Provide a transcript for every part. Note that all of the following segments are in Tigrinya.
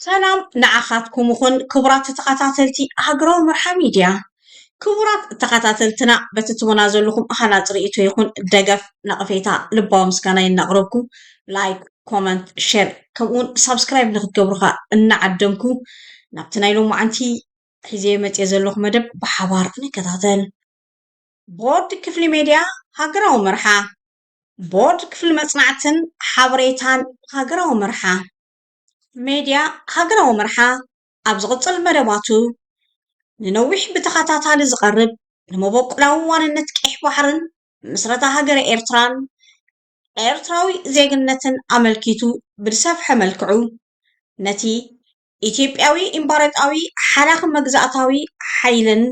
ሰላም ንዓኻትኩም ይኹን ክቡራት ተኸታተልቲ ሃገራዊ መርሓ ሚድያ። ክቡራት ተኸታተልትና በቲ ትቡና ዘለኹም ሃናፂ ርእይቶ ይኹን ደገፍ ነቐፌታ ልባዊ ምስጋናይ እናቕረብኩ ላይክ፣ ኮመንት፣ ሼር ከምኡውን ሳብስክራይብ ንክትገብሩ ኸኣ እናዓደምኩ ናብቲ ናይ ሎማዓንቲ ሒዘዮ መፅየ ዘለኹ መደብ ብሓባር ንከታተል። ቦርድ ክፍሊ ሜድያ ሃገራዊ መርሓ። ቦርድ ክፍሊ መፅናዕትን ሓበሬታን ሃገራዊ መርሓ። ሜድያ ሃገራዊ መርሓ ኣብ ዝቕጽል መደባቱ ንነዊሕ ብተኸታታሊ ዝቐርብ ንመበቆላዊ ዋንነት ቀይሕ ባሕርን ምስረታ ሃገረ ኤርትራን ኤርትራዊ ዜግነትን ኣመልኪቱ ብዝሰፍሐ መልክዑ ነቲ ኢትዮጵያዊ ኢምፓረጣዊ ሓላኺ መግዛእታዊ ሓይልን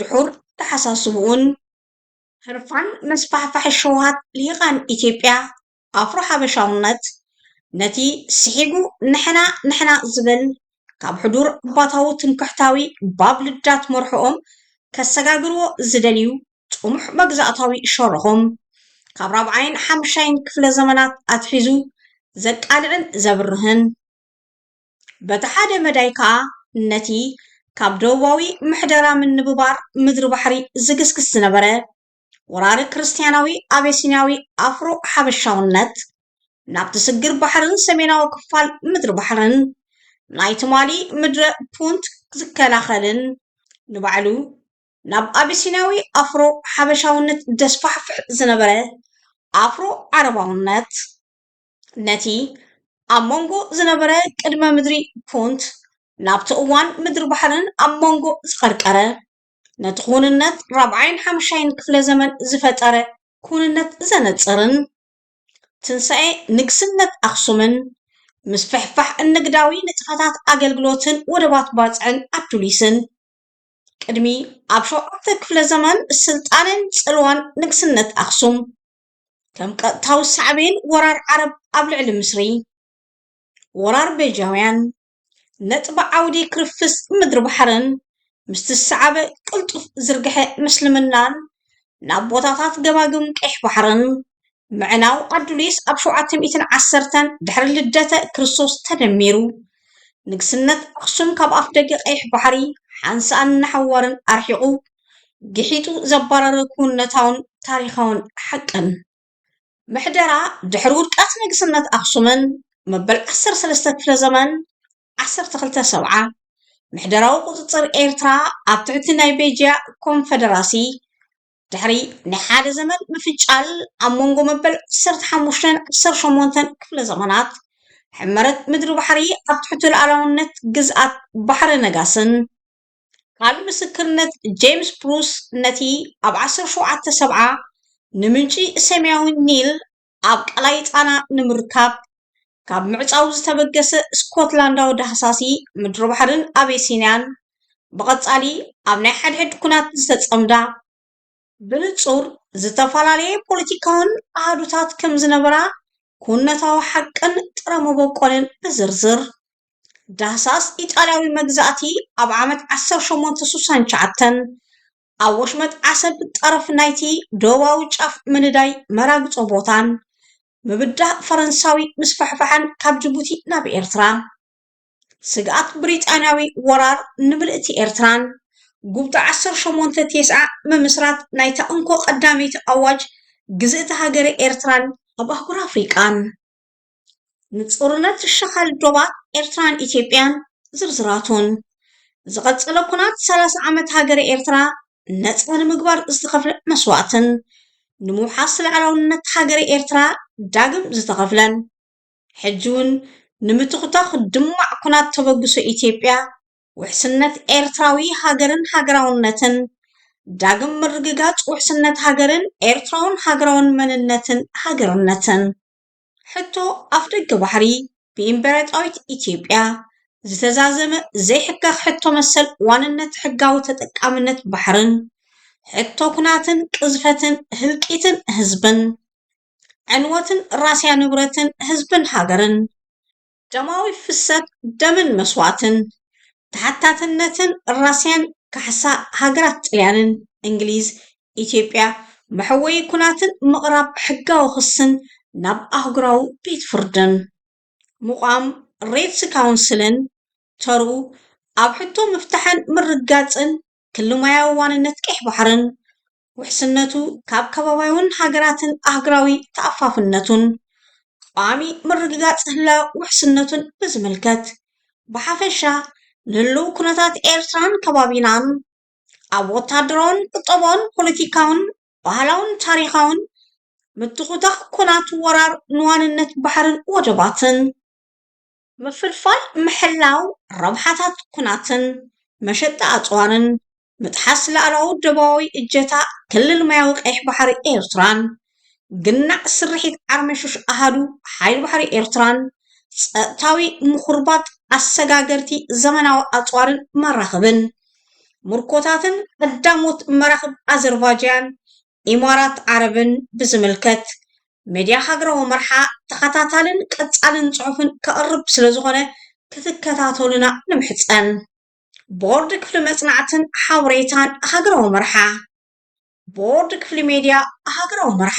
ድሑር ተሓሳስብኡን ህርፋን መስፋሕፋሒ ሸውሃት ልሂቃን ኢትዮጵያ ኣፍሮ ሓበሻውነት ነቲ ስሒጉ ንሕና ንሕና ዝብል ካብ ሕዱር ባታዊ ትምክሕታዊ ባብ ልዳት መርሖኦም ከሰጋግርዎ ዝደልዩ ጥሙሕ መግዛእታዊ ሸርሆም ካብ ራብዓይን ሓምሻይን ክፍለ ዘመናት ኣትሒዙ ዘቃልዕን ዘብርህን በቲ ሓደ መዳይ ከኣ ነቲ ካብ ደቡባዊ ምሕደራ ምንብባር ምድሪ ባሕሪ ዝግስግስ ዝነበረ ወራሪ ክርስትያናዊ ኣቤሲንያዊ ኣፍሮ ሓበሻውነት ናብቲ ስግር ባሕርን ሰሜናዊ ክፋል ምድሪ ባሕርን ናይ ትማሊ ምድረ ፑንት ዝከላኸልን ንባዕሉ ናብ ኣቤሲንያዊ ኣፍሮ ሓበሻውነት ደስፋሕፍሕ ዝነበረ ኣፍሮ ዓረባውነት ነቲ ኣብ መንጎ ዝነበረ ቅድመ ምድሪ ፑንት ናብቲ እዋን ምድሪ ባሕርን ኣብ መንጎ ዝቐርቀረ ነቲ ኩውንነት ራብዓይን ሓምሻይን ክፍለ ዘመን ዝፈጠረ ኩውንነት ዘነጽርን፣ ትንሳኤ ንግስነት ኣኽሱምን ምስፍሕፋሕ እንግዳዊ ንጥፈታት ኣገልግሎትን ወደባት ባጽዕን ኣዱሊስን፣ ቅድሚ ኣብ ሸውዓተ ክፍለ ዘመን ስልጣኔን ጽልዋን ንግስነት ኣኽሱም፣ ከም ቀጥታዊ ሳዕቤን ወራር ዓረብ ኣብ ልዕሊ ምስሪ፣ ወራር ቤጃውያን፣ ነጥቢ ዓውዲ ክርፍስ ምድሪ-ባሕርን ምስቲ ዝሰዓበ ቅልጡፍ ዝርግሐ ምስልምናን ናብ ቦታታት ገማግም ቀይሕ ባሕርን ምዕናው ኣዱሊስ ኣብ ሸውዓተ ሚእትን ዓሰርተን ድሕሪ ልደተ ክርስቶስ ተደሚሩ ንግስነት ኣኽሱም ካብ ኣፍደገ ቀይሕ ባሕሪ ሓንሳእን ንሓዋርን ኣርሒቑ ግሒጡ ዘባረረ ክውንነታውን ታሪኻውን ሓቅን ምሕደራ ድሕሪ ውድቀት ንግስነት ኣኽሱምን መበል ዓሰርተ ሰለስተ ክፍለ ዘመን ዓሰርተ ክልተ ሰብዓ፣ ምሕደራዊ ቁጽጽር ኤርትራ ኣብ ትሕቲ ናይ ቤጅያ ኮንፈደራሲ፣ ድሕሪ ናይ ሓደ ዘመን ምፍንጫል ኣብ መንጎ መበል ዓሰርተ ሓሙሽተን ዓሰርተ ሸሞንተን ክፍለ ዘመናት፣ ሕመረት ምድሪ ባሕሪ ኣብ ትሕቲ ሉዓላውነት ግዝኣት ባሕረ ነጋስን፣ ቃል ምስክርነት ጄምስ ብሩስ ነቲ ኣብ ዓሰርተ ሸውዓተ ሰብዓ ንምንጪ ሰማያዊ ኒል ኣብ ቀላይ ጻና ንምርካብ ካብ ምዕጻው ዝተበገሰ ስኮትላንዳዊ ዳህሳሲ ምድሪባሕርን ኣቤሲንያን ብቐጻሊ ኣብ ናይ ሓድሕድ ኵናት ዝተጸምዳ ብንጹር ዝተፈላለየ ፖለቲካውን ኣሃዱታት ከም ዝነበራ ኩነታዊ ሓቅን ጥረ መበቆልን ብዝርዝር። ዳህሳስ ኢጣልያዊ መግዛእቲ ኣብ ዓመት ዓሰርተ ሸሞንተ ስሳን ትሽዓተን ኣብ ወሽመጥ ዓሰብ ጠረፍ ናይቲ ደቡባዊ ጫፍ ምንዳይ መራግጾ ቦታን ምብዳህ ፈረንሳዊ ምስፍሕፋሕን ካብ ጅቡቲ ናብ ኤርትራ ስግኣት ብሪጣንያዊ ወራር ንምልእቲ ኤርትራን ጉብቶ ዓሰርተ ሸሞንተ ቴስዓ ምምስራት ናይታ እንኮ ቀዳመይቲ ኣዋጅ ግዝእቲ ሃገረ ኤርትራን ኣብ ኣህጉር ኣፍሪቃን ንጾርነት ሸኻል ዶባት ኤርትራን ኢትዮጵያን ዝርዝራቱን ዝቐጸለ ኩናት ሰላሳ ዓመት ሃገረ ኤርትራ ነጻ ንምግባር ዝተኸፍለ መስዋእትን ንምውሓስ ልዕላውነት ሃገረ ኤርትራ ዳግም ዝተኸፍለን ሕጂ ውን ንምትኹታኹ ድማዕ ኩናት ተበግሶ ኢትዮጵያ፣ ውሕስነት ኤርትራዊ ሃገርን ሃገራውነትን፣ ዳግም ምርግጋጽ ውሕስነት ሃገርን ኤርትራውን ሃገራውን መንነትን ሃገርነትን። ሕቶ ኣፍደገ ባሕሪ ብኢምበረጣዊት ኢትዮጵያ ዝተዛዘመ ዘይሕጋኽ ሕቶ መሰል ዋንነት ሕጋዊ ተጠቃምነት ባሕርን፣ ሕቶ ኩናትን ቅዝፈትን ህልቂትን ህዝብን፣ ዕንወትን ራስያ ንብረትን ህዝብን ሃገርን፣ ደማዊ ፍሰት ደምን መስዋእትን፣ ተሓታትነትን ራስያን ካሕሳ ሃገራት ጥልያንን፣ እንግሊዝ፣ ኢትዮጵያ፣ መሕወዪ ኩናትን ምቕራብ ሕጋዊ ክስን ናብ ኣህጉራዊ ቤት ፍርድን፣ ምቛም ሬትስ ካውንስልን ተርኡ ኣብ ሕቶ ምፍታሕን ምርግጋጽን ክልማያዊ ዋንነት ቀይሕ ባሕርን፣ ውሕስነቱ ካብ ከባቢያውን ሃገራትን ኣህግራዊ ተኣፋፍነቱን ቋሚ ምርግጋጽ ህላው ውሕስነቱን ብዝምልከት ብሓፈሻ ንህሉው ኩነታት ኤርትራን ከባቢናን ኣብ ወታደራውን ቁጠባውን ፖለቲካውን ባህላውን ታሪኻውን ምትኹታኽ ኩናት ወራር ንዋንነት ባሕርን ወደባትን ምፍልፋል ምሕላው ረብሓታት ኩናትን መሸጣ ኣጽዋርን ምጥሓስ ላእላዊ ደባዊ እጀታ ክልል ማያዊ ቀይሕ ባሕሪ ኤርትራን ግናዕ ስርሒት ዓርመሹሽ ኣሃዱ ሓይሊ ባሕሪ ኤርትራን ጸጥታዊ ምኹርባት ኣሰጋገርቲ ዘመናዊ ኣጽዋርን መራኽብን ምርኮታትን ቀዳሞት መራኽብ ኣዘርቫጃን ኢማራት ዓረብን ብዝምልከት ሚድያ ሃገራዊ መርሓ ተኸታታልን ቀፃልን ፅሑፍን ከቕርብ ስለዝኾነ ክትከታተሉና ንምሕፀን። ቦርድ ክፍሊ መፅናዕትን ሓበሬታን ሃገራዊ መርሓ ቦርድ ክፍሊ ሜድያ ሃገራዊ መርሓ